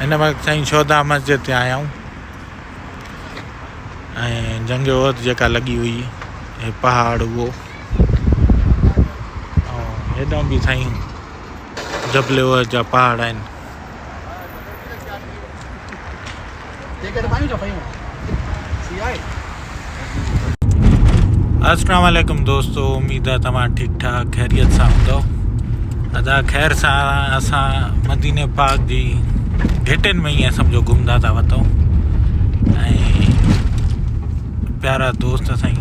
هن وقت سائين شهداء مسجد تي آيا آهيون ۽ جنگ عهد جيڪا لڳي هئي هي پهاڙ اهو هيڏانهن به سائين جبل عهد جا پهاڙ آهن السلام عليڪم دوستو اميد آ توهان ٺيڪ ٺاڪ خيريت سان هوندو ادا خير سان اسان مدينه پاڪ جي گهٽين ۾ ائين سمجهو گهمندا ٿا وتو ۽ پيارا دوست سائين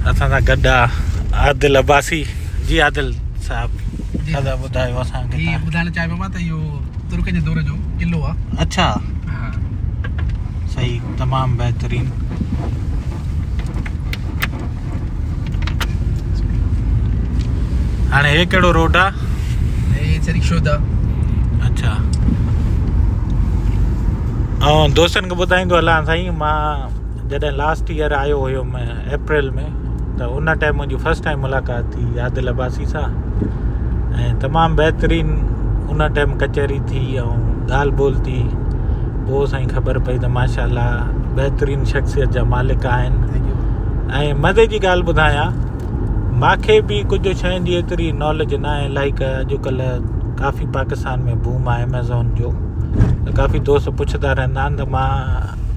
اسان سان گڏ آ عادل عباسي جي عادل صاحب جي ٻڌايو اسان کي جي ٻڌائڻ چاهيو مان ته اهو ترڪن جي دور جو قلعو آ اڇا ها صحيح تمام بهترين هاڻي هي ڪهڙو روڊ آ هي سري شودا اڇا ۽ دوستن کي ٻڌائيندو هلان سائين مان جڏهن لاسٽ ايئر آيو هيم اپريل ۾ ته ان ٽائيم منهنجي فرسٽ ٽائيم ملاقات ٿي عادل عباسي سان ۽ تمام بهترين ان ٽائيم ڪچهري ٿي ۽ ڳالهه ٻولهه ٿي پوء سائين خبر پئي ته ماشاءالله بهترين شخصيت جا مالڪ آهن ۽ مزي جي ڳالهه ٻڌايان ماکي به ڪجهه شين جي ايتري ناليج نه آهي لائڪ اڄڪلهه ڪافي پاڪستان ۾ بوم آهي ايمازون جو ڪافي دوست پڇندا رهندا آهن ته مان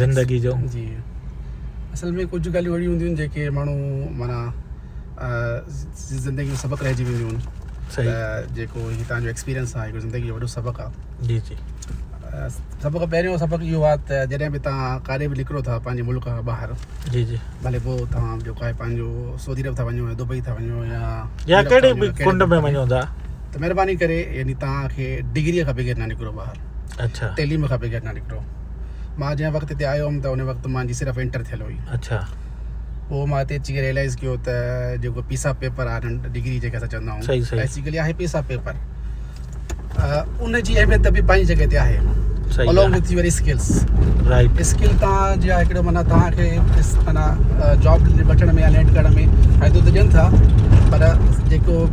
زندگي جو جي اصل ۾ ڪجهه ڳالهيون اهڙيون هونديون آهن جيڪي ماڻهو مانا زندگي جو سبق رهجي وينديون آهن صحيح جيڪو هي تان جو ايڪسپيرينس آ هي زندگي جو وڏو سبق آ جي جي سبق پهريون سبق اهو آ ته جڏهن به تان ڪاري به نڪرو ٿا پنهنجي ملڪ کان ٻاهر جي جي ڀلي پو تان جو ڪاي پنهنجو سعودي عرب ٿا وڃو دبئي ٿا وڃو يا يا ڪهڙي به ڪنڊ ۾ وڃو ٿا ته مهرباني ڪري يعني تان کي ڊگري کان بغير نه نڪرو ٻاهر اڇا تعليم کان بغير نه نڪتو مان جنهن وقت هتي آيو هوم ته ان وقت مانجي صرف انٽر ٿيل هئي اڇا پوء مان هتي اچي ريلائز ڪيو ته جيڪو پيسا پيپر آهي ڊگري جيڪا اسان چوندا آهيون بيسيڪلي آهي پيسا پيپر ان جي اهميت به پنهنجي جڳهه تي آهي along with your skills right skill تان جي آهي هڪڙو معنی تان کي معنی جاب وٺڻ ۾ لينڊ ڪرڻ ۾ فائدو ته ڏين ٿا پر جيڪو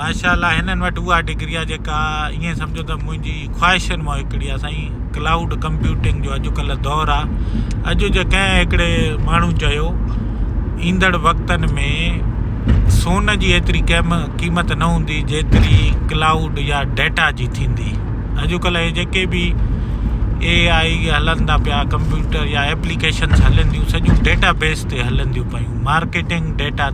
ماشاء الله هنن وٽ اها ڊگري آهي جيڪا ائين سمجهو ته منهنجي خواهشن مان هڪڙي آهي سائين ڪلائوڊ ڪمپيوٽنگ جو اڄڪلهه دور آهي اڄ جي ڪنهن هڪڙي ماڻهو چيو ايندڙ وقتن ۾ سون جي ايتري ڪم قيمت نه هوندي جيتري ڪلائوڊ يا ڊيٽا جي ٿيندي اڄڪلهه هي جيڪي به اي آئي هلن ٿا پيا ڪمپيوٽر يا ايپليڪيشنس هلن ٿيون سڄيون ڊيٽا بيس تي هلن ٿيون پيون مارڪيٽنگ ڊيٽا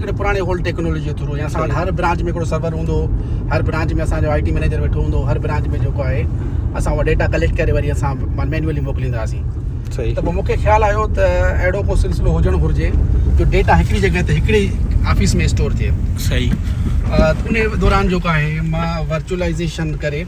هڪڙي پراڻي اولڊ ٽيڪنالاجي جو ٿرو يا اسان وٽ هر برانچ ۾ هڪڙو سرور هوندو هو هر برانچ ۾ اسان جو آئي ٽي مئنيجر ويٺو هوندو هو هر برانچ ۾ جيڪو آهي اسان اهو ڊيٽا ڪليڪٽ ڪري وري اسان مينوئلي موڪليندا هئاسين صحيح ته پوء مونکي خيال آيو ته اهڙو ڪو سلسلو هجڻ گهرجي جو ڊيٽا هڪڙي جڳهه تي هڪڙي آفيس ۾ اسٽور ٿئي صحيح ان دوران جيڪو آهي مان ورچوئلائيزيشن ڪري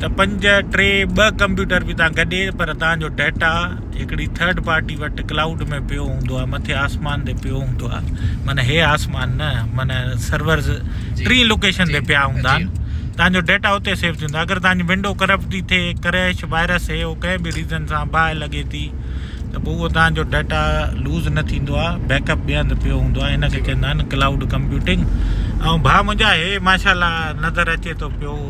ته پنج ٽي ٻه ڪمپيوٽر به تان گڏي پر تان جو ڊيٽا هڪڙي ٿرڊ پارٽي وٽ ڪلائوڊ ۾ پيو هوندو آهي مٿي آسمان تي پيو هوندو آهي من هي آسمان نه من سرورز ٽي لوڪيشن تي پيا هوندا آهن تان جو ڊيٽا اتي سيو ٿيندو آهي اگر تان جي ونڊو ڪرپٽ ٿي ٿي ڪريش وائرس هي هو ڪنهن به ريزن سان باهه لڳي ٿي ته پوء اهو تان جو ڊيٽا لوز نه ٿيندو آهي بيڪ اپ ٻي هنڌ پيو هوندو آهي ان کي چوندا آهن ڪلائوڊ ڪمپيوٽنگ ۽ ڀا منهنجا هي ماشاء الله نظر اچي ٿو پيو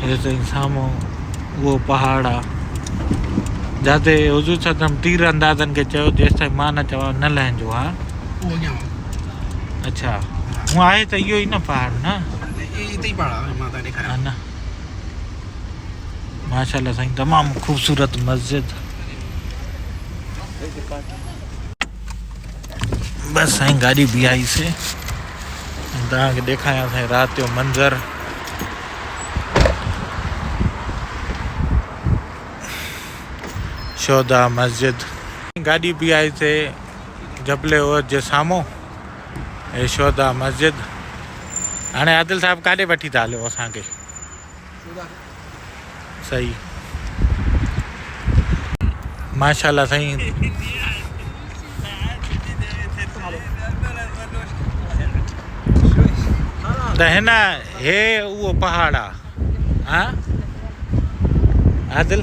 ڏسو تنهنجي سامهون اهو پهاڙ آ جاتي حضور صلي الله عليه وسلم تير اندازن کي چيو جيستائين مان نه چوان نه لهنجو ها اڇا هون آهي ته اهو ئي نه پهاڙ نه ماشاء الله سائين تمام خوبصورت مسجد بس سائين گاڏي بيهائي سي توهان کي ڏيکاريان سائين رات جو منظر شودا مسجد گاڏي بيهائي سي جبل اوت جي سامو اي شودا مسجد هاڻي عادل صاحب ڪاڏي وٺي ٿا هليو اسان کي سائين ماشاءالله سائين. ته هن هي اهو پهاڙ آ ها عادل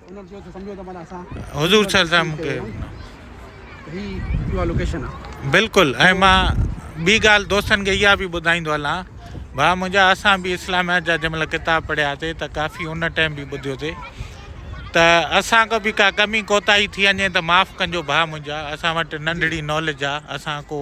حضور صلي الله عليه وسلم بلڪل ۽ مان ٻي ڳالهه دوستن کي اها به ٻڌائيندو هلان ڀاء منهنجا اسان به اسلاميات جا جنهن مهل ڪتاب پڙهياسي ته ڪافي ان ٽائيم به ٻڌيوسي ته اسان کان به ڪا ڪمي ڪوتاهي ٿي وڃي ته معاف ڪجو ڀاء منهنجا اسان وٽ ننڍڙي نالج آهي اسان ڪو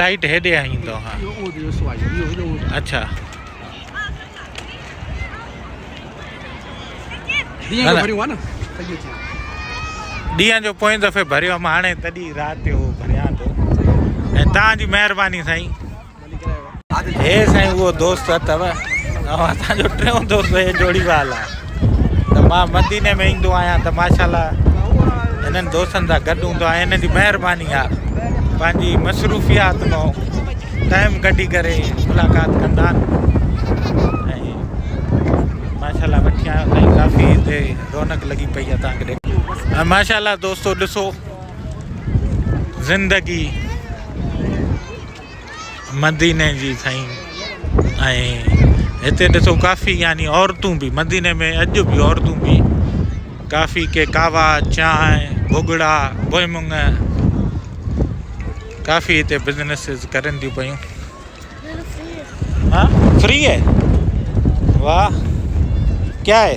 لائيٽ هيڏي آهي ايندو ها اچھا ڏينهن جو پوئين دفعي ڀريو هيم هاڻي تڏهن رات جو ڀريان ٿو ۽ تهان جي مهرباني سائين هي سائين اهو دوست اٿو اهو اسان جو ٽيون دوست هي جوڙي وال آ ته مان مديني ۾ ايندو آهيان ته ماشاءالله هنن دوستن سان گڏ هوندو آهيان هنن جي مهرباني آ پنهنجي مصروفيات مو ٽائم ڪڍي ڪري ملاقات ڪندا آهن ماشاءالله وٺي آيو سائين ڪافي هتي رونق لڳي پئي آ تان ڪري ۽ ماشاءالله دوستو ڏسو زندگي مديني جي سائين ۽ هتي ڏسو ڪافي يعني عورتون بي مديني ۾ اڄ بي عورتون بي ڪافي ڪي ڪاوا چانهه ڀڳڙا بوهي مونگ ڪافي هتي بزنسز ڪرن ٿيون پيون ها فري هي واهه ڪيا هي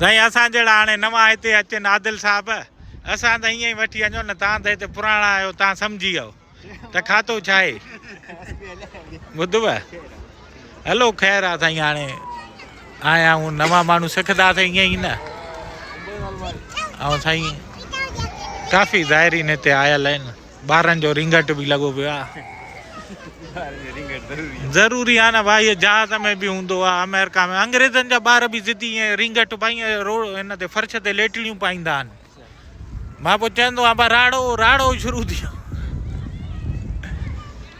سائين اسان جهڙا هاڻي نوان هتي اچن عادل صاحب اسان ته ائين ئي وٺي وڃو نه توهان ته هتي پراڻا آهيو توهان سمجهي ويو ته کاتو ڇا آهي ٻڌو هلو خير آ سائين هاڻي آيا آهيون نوان ماڻهو سکنداسي ائين ئي نه ۽ سائين ڪافي زائرين هتي آيل آهن ٻارن جو رينگٽ به لڳو پيو آهي ضروري آهي نه ڀائي جهاز ۾ به هوندو آهي آمريڪا ۾ انگريزن جا ٻار به ضدي ائين رينگٽ ڀائي هن تي فرش تي ليٽريون پائيندا آهن مان پوء چوندو آهيان ڀائي راڙو راڙو شروع ٿي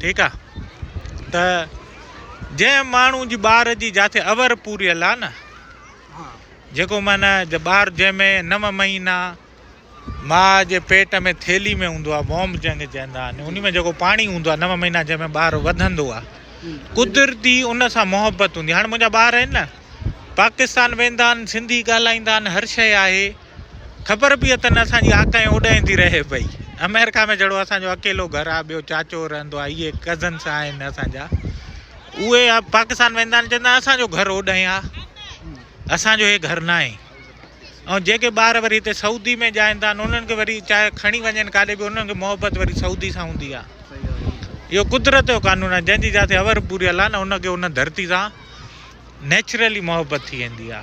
ٺيڪ آ ته جنهن ماڻهو جي ٻار جي جاٿي اوور پوريل آ نه جيڪو معنيٰ جي ٻار جنهن ۾ نو مهينا ماء جي پيٽ ۾ ٿيلي ۾ هوندو آ ووم جنهن کي چوندا آهن ان ۾ جيڪو پاڻي هوندو آ نو مهينا جنهن ۾ ٻار وڌندو آ قدرتي ان سان محبت هوندي هاڻ منهنجا ٻار آهن نه پاڪستان ويندا آهن سنڌي ڳالهائيندا آهن هر شي آهي خبر به اٿن اسان جي آڪهين اوڏانهن ٿي رهي پئي. آمريڪا ۾ جهڙو اسان جو اڪيلو گهر آ ٻيو چاچو رهندو آ اهي ڪزنس آهن اسان جا اهي پاڪستان ويندا آهن چوندا آهن اسان جو گهر اوڏانهن آ اسان جو هي گهر ناهي ۽ جيڪي ٻار وري هتي سعودي ۾ ڄائن ٿا انهن کي وري چاهي کڻي وڃن ڪاڏي به انهن کي محبت وري سعودي سان هوندي آ اهو قدرت جو قانون آ جنهن جي جاتي اور پوريل آ نه ان کي ان ڌرتي سان نيچرلي محبت ٿي ويندي آ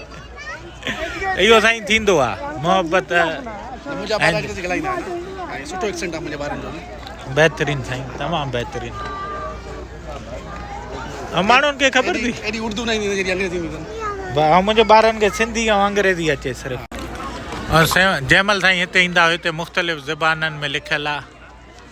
اهو سائين ٿيندو آ محبت بهترين سائين تمام بهترين ماڻهن کي خبر ٿي ايڏي اردو نه ايندي جيڏي انگريزي ايندي اٿن ها منهنجي ٻارن کي سنڌي ۽ انگريزي اچي صرف جنهن مهل سائين هتي ايندا هتي مختلف زبانن ۾ لکيل آ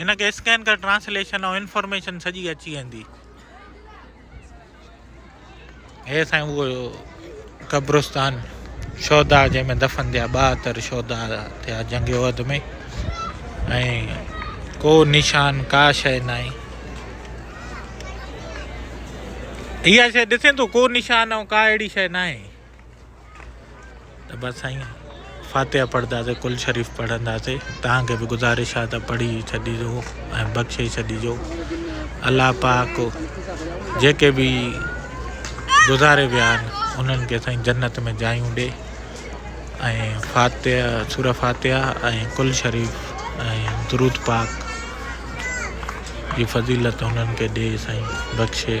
هن کي اسڪين ڪر ٽرانسليشن ۽ انفارميشن سڄي اچي ويندي. هي سائين اهو قبرستان شهدا جنهن ۾ دفن ٿيا ٻاهتر شهدا ٿيا جنگ عهد ۾ ۽ ڪو نشان ڪا شيء نه آهي اها شيء ڏسين ٿو ڪو نشان ۽ ڪا اهڙي شيء نه آهي ته بس سائين فاتحه پڙهنداسي قل شريف پڙهنداسي تان کي به گذارش آ ته پڙهي ڇڏيجو ۽ بخشي ڇڏيجو الله پاڪ جيڪي به گذاري ويا آهن انهن کي سائين جنت ۾ جايون ڏي ۽ فاتحه سوره فاتحه ۽ قل شريف ۽ درود پاڪ جي فضيلت انهن کي ڏي سائين بخشي